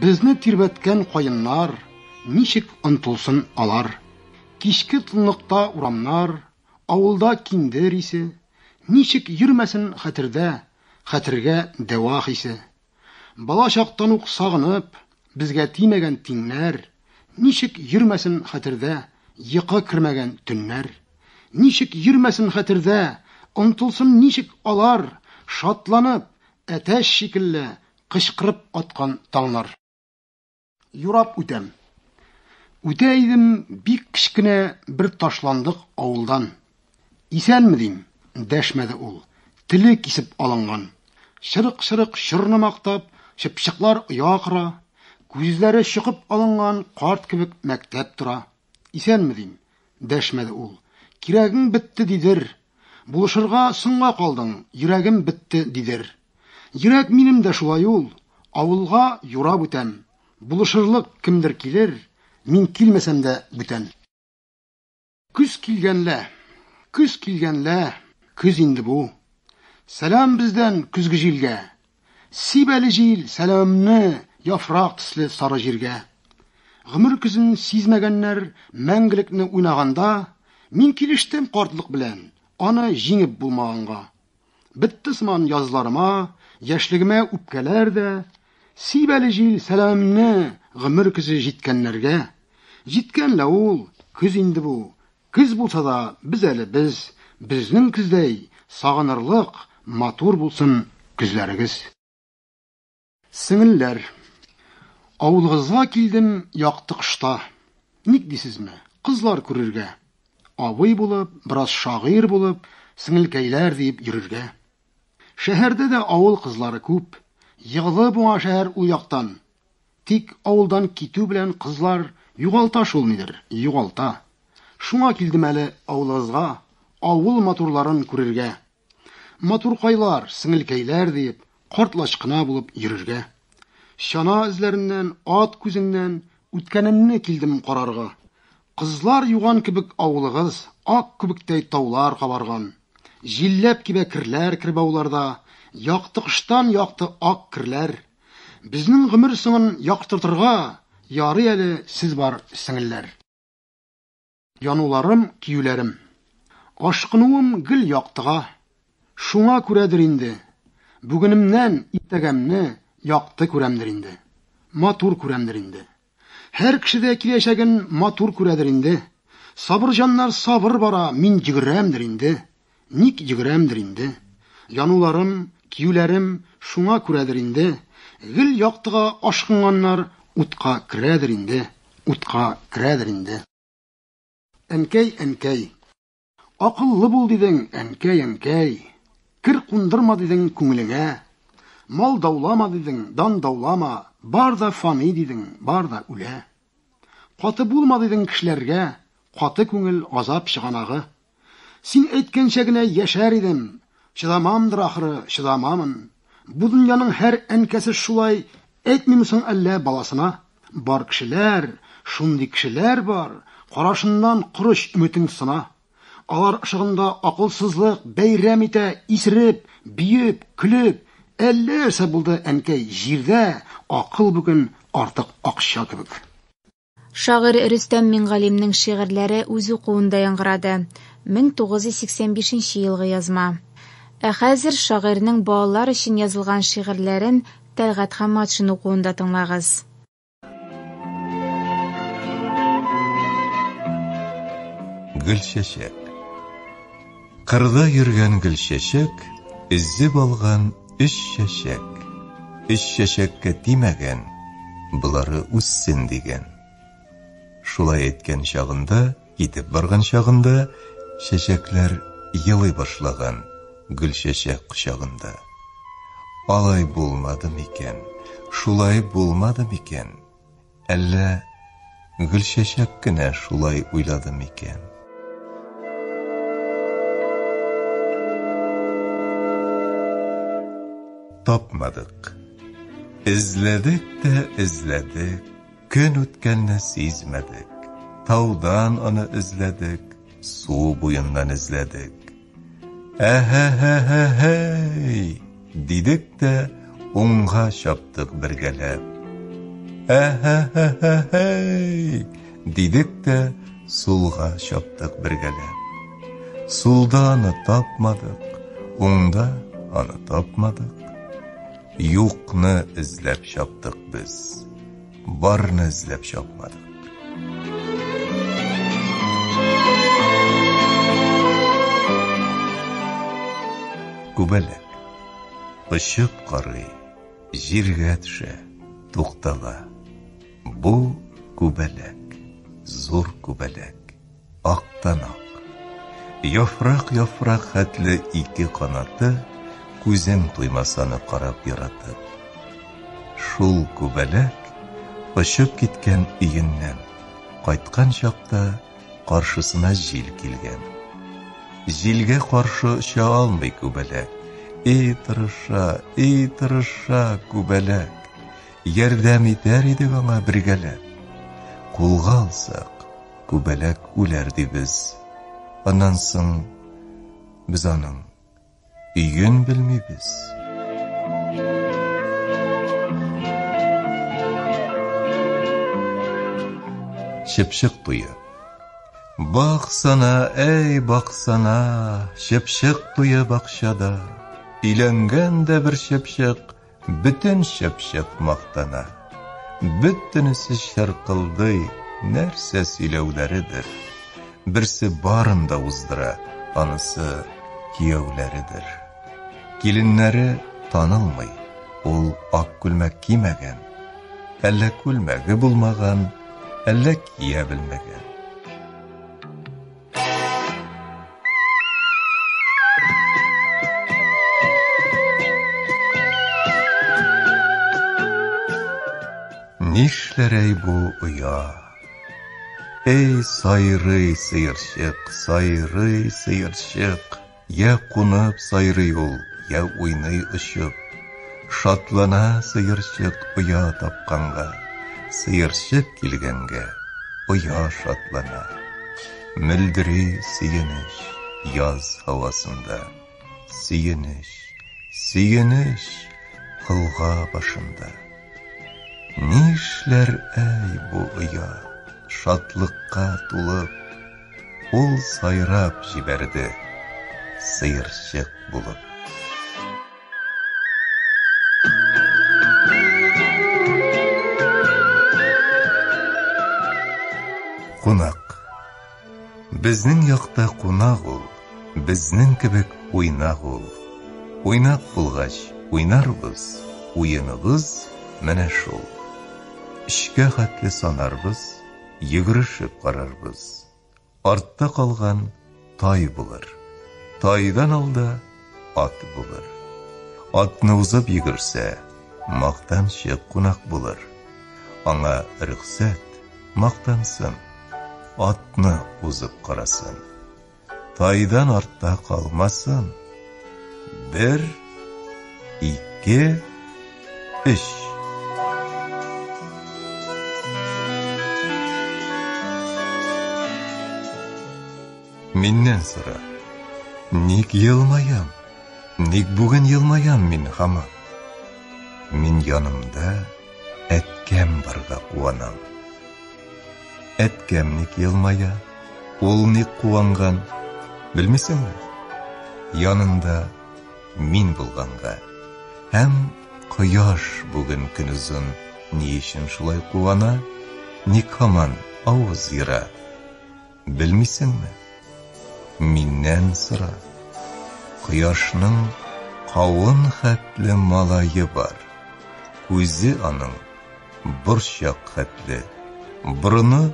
Безне тирбәткән каеннар, Ничек онтылсын алар? Кичке тынлыкта урамнар, Авылда киндер исе, Ничек йөрмәсен хәтердә, Хәтергә дәва хисе? Бала чактан ук сагынып, Безгә тимәгән тиңнәр, Ничек йөрмәсен хәтердә, Йокы кермәгән төннәр? Ничек йөрмәсен хәтердә, Онтылсын ничек алар, Шатланып, әтәч шикелле, Кычкырып аткан таңнар. Юрап үтәм. Үтә идем бик кечкенә бер ташландык авылдан. Исәнме дим, дәшмәде ул. Теле кисеп алынган. Чырык-чырык чорны мактап, чыпчыклар оя кора. Күзләре чокып алынган карт кебек мәктәп тора. Исәнме, дим. Дәшмәде ул. Кирәгең бетте, дидер. Булышырга соңга калдың, йөрәгем бетте, дидер. Йөрәк минем дә шулай ул. Авылга юрап үтәм. Булышырлык кемдер килер, мин килмәсәм дә бүтән. Көз килгәнлә, көз килгәнлә, көз инде бу. Сәлам бездән көзге җилгә, Сиб әле җил сәламемне яфрак төсле сары җиргә. Гомер көзен сизмәгәннәр мәңгелекне уйнаганда, мин килештем картлык белән, аны җиңеп булмаганга. Бетте сыман язларыма, яшьлегемә үпкәләр дә. Сиб әле җил сәламемне гомер көзе җиткәннәргә. Җиткән лә ул, көз инде бу, Көз булса да без әле без, Безнең көздәй сагынырлык, Матур булсын көзләрегез. Сеңелләр. Авылыгызга килдем якты кышта. Ник дисезме? Кызлар күрергә. Абый булып, бераз шагыйрь булып, Сеңелкәйләр диеп йөрергә. Шәһәрдә дә авыл кызлары күп. Егылып уңа шәһәр ул яктан. Тик авылдан китү белән кызлар югалта шул нидер, югалта. Шуңа килдем әле авылыгызга, авыл матурларын күрергә. Матуркайлар, сеңелкәйләр диеп, карт-лачкына булып йөрергә. Чана эзләреннән, ат күзеннән үткәнемне килдем карарга. Кызлар юган кебек авылыгыз, ак күбектәй таулар кабарган. Җилләп кибә керләр кербауларда, якты кыштан якты ак керләр. Безнең гомер соңын яктыртырга ярый әле сез бар, сеңелләр. Януларым, киюләрем. Ашкынуым гел яктыга. Шуңа күрәдер инде, бүгенемнән иртәгәмне якты күрәмдер инде. Матур күрәмдер инде. Һәр кеше дә киләчәген матур күрәдер инде. Сабырҗаннар сабыр бара, мин йөгерәмдер инде. Ник йөгерәмдер инде. Януларым, киюләрем шуңа күрәдер инде. Гел яктыга ашкынганнар утка керәдер инде, утка керәдер инде. Әнкәй, әнкәй. Акыллы бул дидең, әнкәй, әнкәй. Кер кундырма дидең күңелеңә. Мал даулама дидең, дан даулама. Бар да фани дидең, бар да үлә. Каты булма дидең кешеләргә, каты күңел азап чыганагы. Син әйткәнчә генә яшәр идем, чыдамамдыр ахры, чыдамамын. Бу дөньяның һәр әнкәсе шулай Әйтмиме соң әллә баласына, Бар кешеләр, шундый кешеләр бар, Карашыннан корыч өметең сына. Алар ышыгында акылсызлык бәйрәм итә, Исереп, биеп, көлеп, әллә нәрсә булды, әнкәй, Җирдә акыл бүген артык акча кебек. Шагыйрь Рөстәм Мингалимнең шигырьләре үз укуында яңгырады, 1985 елгы язма. Ә хәзер шагыйрьнең балалар өчен язылган шигырьләрен Тәлгать Хамматшин укуында тыңлагыз. Гөлчәчәк. Кырда йөргән гөлчәчәк Өзеп алган өч чәчәк. Өч чәчәккә тимәгән, Болары үссен дигән. Шулай әйткән чагында, Китеп барган чагында, Чәчәкләр елый башлаган Гөлчәчәк кочагында. Алай булмады микән, Шулай булмады микән? Әллә гөлчәчәк кенә шулай уйлады микән? Тапмадык. Эзләдек тә эзләдек, көн үткәнне сизмәдек. Таудан аны эзләдек, су буеннан эзләдек. Әһәһәһәһәй! дидек тә, уңга чаптык бергәләп. Әһәһәһәһәй! дидек тә, сулга чаптык бергәләп. Сулда аны тапмадык, уңда аны тапмадык. Юкны эзләп чаптык без. Барны эзләп чапмадык. Күбәләк. Очып карый, җиргә төшә, туктала. Бу күбәләк, зур күбәләк. Актан-ак. Яфрак-яфрак хәтле ике канаты, Күзең туймас аны карап яратып. Шул күбәләк, очып киткән өеннән, Кайткан чакта каршысына җил килгән. Җилгә каршы оча алмый күбәләк, И тырыша, и тырыша күбәләк, Ярдәм итәр идек аңа бергәләп. Кулга алсак, күбәләк үләр дибез. Аннан соң без аның өен белмибез. Чыпчык туе. Баксана, әй, баксана, чыпчык туе бакчада. Өйләнгән дә бер чыпчык, Бөтен чыпчык мактана. Бөтенесе чыркылдый, нәрсә сөйләүләредер. Берсе барын да уздыра, анысы кияүләредер. Киленнәре танылмый, ул ак күлмәк кимәгән. Әллә күлмәге булмаган, әллә кия белмәгән. Нишләр әй бу оя? Әй, сайрый сыерчык, сайрый сыерчык. Йә кунып сайрый ул, йә уйный очып, Шатлана сыерчык оя тапканга, Сыерчык килгәнгә, оя шатлана. Мөлдери сөенеч яз һавасында, Сөенеч, сөенеч колга башында. Нишләр, әй, бу оя, шатлыкка тулып? Ул сайрап җибәрде, сыерчык булып. Кунак. Безнең якта кунак ул, безнең кебек уйнак ул. Уйнак булгач, уйнарбыз, уеныбыз менә шул. Өчкә хәтле санарбыз, йөгерешеп карарбыз. Артта калган тай булыр. Тайдан алда ат булыр. Атны узып йөгерсә, мактанчы кунак булыр. Аңа рөхсәт, мактансын. Атны узып карасын. тайдан артта калмасын. Бер, ике, өч. Миннән сора. Ник елмаям? Ник бүген елмаям мин хама? Мин янымда әткәм барга куанам. Әткәм ник елмая, ул ник куанган, белмисеңме? Янында мин булганга. Һәм кояш бүген көнозын ни өчен шулай куана, ник һаман авыз ера? Белмисеңме? Миннән сора. Кояшның кавын хәтле малае бар. Күзе аның борчак хәтле, борыны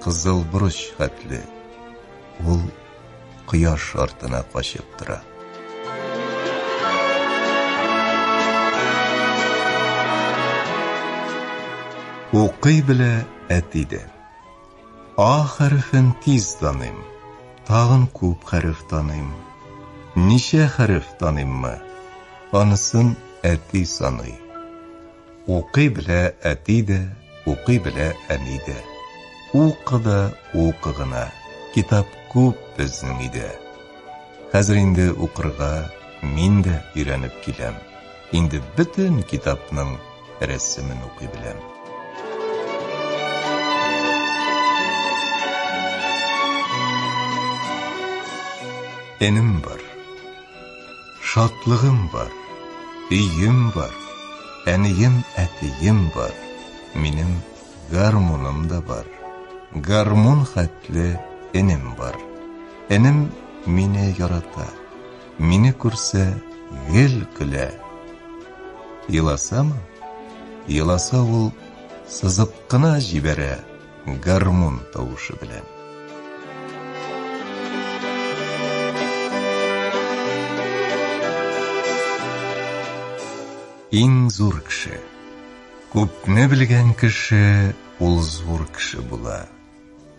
кызыл борыч хәтле. Ул кояш артына качып тора. Укый белә әти дә. А хәрефен тиз таныйм. Тагын күп хәреф таныйм. Ничә хәреф таныйммы? Анысын әти саный. Укый белә әти дә, укый белә әни дә. Укы да, укы гына. Китап күп безнең өйдә. Хәзер инде укырга мин дә өйрәнеп киләм. Инде бөтен китапның рәсемен укый беләм. Энем бар. Шатлыгым бар. Өем бар. Әнием, әтием бар. Минем гармуным да бар. Гармун хәтле энем бар. Энем мине ярата. Мине күрсә, гел көлә. Еласамы? Еласа ул сызып кына җибәрә гармун тавышы белән. Иң зур кеше. Күпне белгән кеше ул зур кеше була.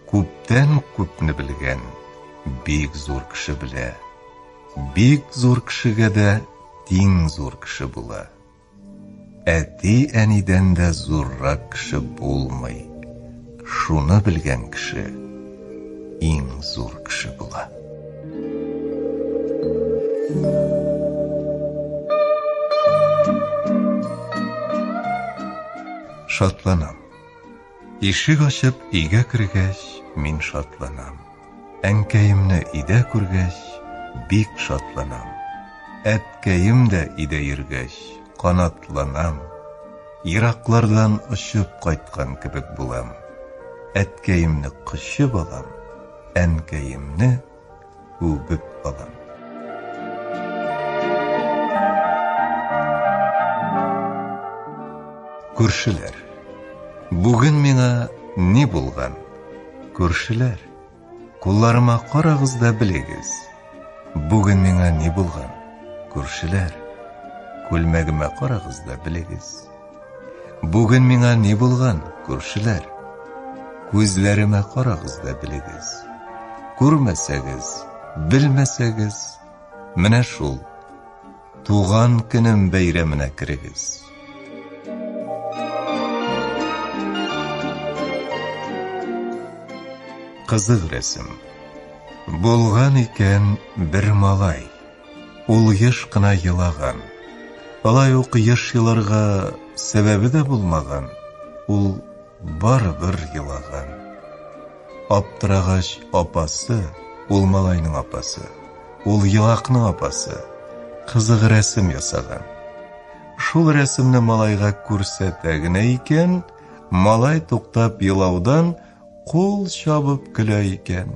Күптән күпне белгән бик зур кеше белә. Бик зур кешегә дә тиң зур кеше була. Әти-әнидән дә зуррак кеше булмый. Шуны белгән кеше иң зур кеше була. Шатланам. Ишек ачып өйгә кергәч, мин шатланам. Әнкәемне өйдә күргәч, бик шатланам. Әткәем дә өйдә йөргәч, канатланам. Ераклардан очып кайткан кебек булам. Әткәемне кочып алам, әнкәемне үбеп алам. Күршеләр. Бүген миңа ни булган? Күршеләр. Кулларыма карагыз да белегез. Бүген миңа ни булган? Күршеләр. Күлмәгемә карагыз да белегез. Бүген миңа ни булган, күршеләр? Күзләремә карагыз да белегез. Күрмәсәгез, белмәсәгез, менә шул. Туган көнем бәйрәменә керегез. Кызык рәсем. Булган икән бер малай. Ул еш кына елаган. Алай ук еш еларга сәбәбе дә булмаган, ул барыбер елаган. Аптырагач апасы, ул малайның апасы, ул елакның апасы, кызык рәсем ясаган. Шул рәсемне малайга күрсәтә генә икән, малай туктап елаудан кул чабып көлә икән.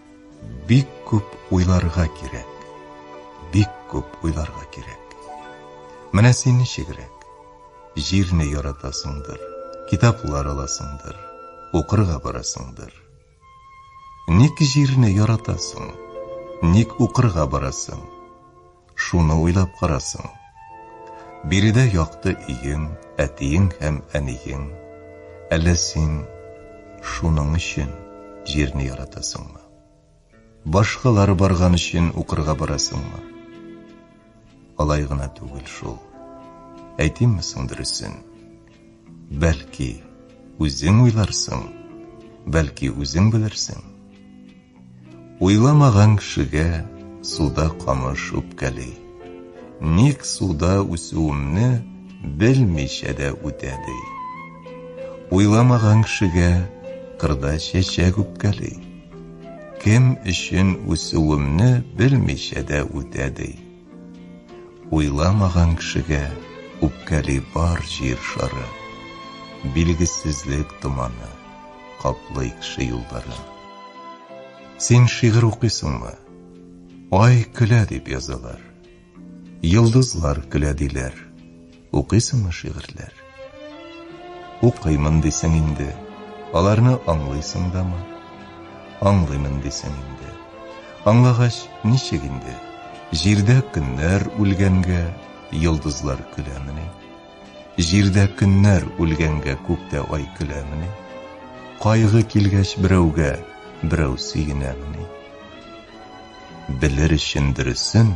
Бик күп уйларга кирәк. Бик күп уйларга кирәк. Менә син ничегрәк? Җирне яратасыңдыр, китаплар аласыңдыр, укырга барасыңдыр. Ник җирне яратасың? Ник укырга барасың? Шуны уйлап карасың. Биредә якты өең, әтиең һәм әниең. Әллә син шуның өчен җирне яратасыңмы? Башкалар барган өчен укырга барасыңмы? Алай гына түгел шул. Әйтимме соң дөресен? Бәлки, үзең уйларсың, бәлки үзең белерсең. Уйламаган кешегә суда камыш үпкәли. Ник суда үсүемне белмичә дә үтә ди. Уйламаган кешегә кырда чәчәк үпкәли. Кем өчен үсүемне белмичә дә үтә ди. Уйламаган кешегә үпкәли бар җир шары, Билгесезлек томаны каплый кеше юлларын. Син шигырь укыйсыңмы? Ай көлә дип язалар, Йолдызлар көлә диләр. Укыйсыңмы шигырьләр? Укыймын дисең инде. Аларны аңлыйсың дамы? Аңлыймын дисең инде. Аңлагач, ничек инде? Җирдә көннәр үлгәнгә, йолдызлар көләмени? Җирдә көннәр үлгәнгә, күктә ай көләмени? Кайгы килгәч берәүгә, берәү сөенәмени? Белер өчен дөресен,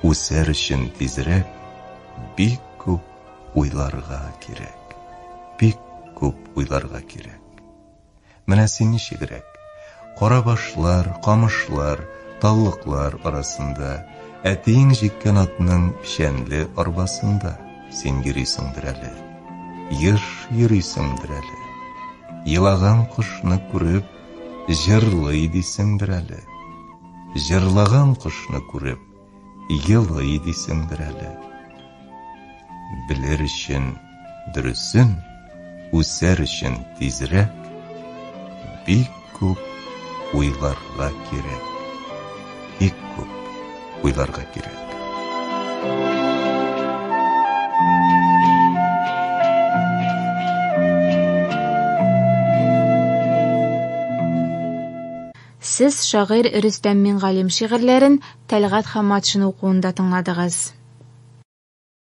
үсәр өчен тизрәк, Бик күп уйларга кирәк. Бик күп уйларга кирәк. Менә син ничегрәк. Кара башлар, камышлар, таллыклар арасында, әтиең җиккән атның печәнле арбасында син йөрисеңдер әле. Еш йөрисеңдер әле. Елаган кошны күреп, җырлый дисеңдер әле. Җырлаган кошны күреп, елый дисеңдер әле. Белер өчен дөресен, үсәр өчен тизрәк, бик күп уйларга кирәк. Бик күп уйларга кирәк. Сез шагыйрь Рөстәм Мингалим шигырьләрен Тәлгать Хамматшин укуында тыңладыгыз.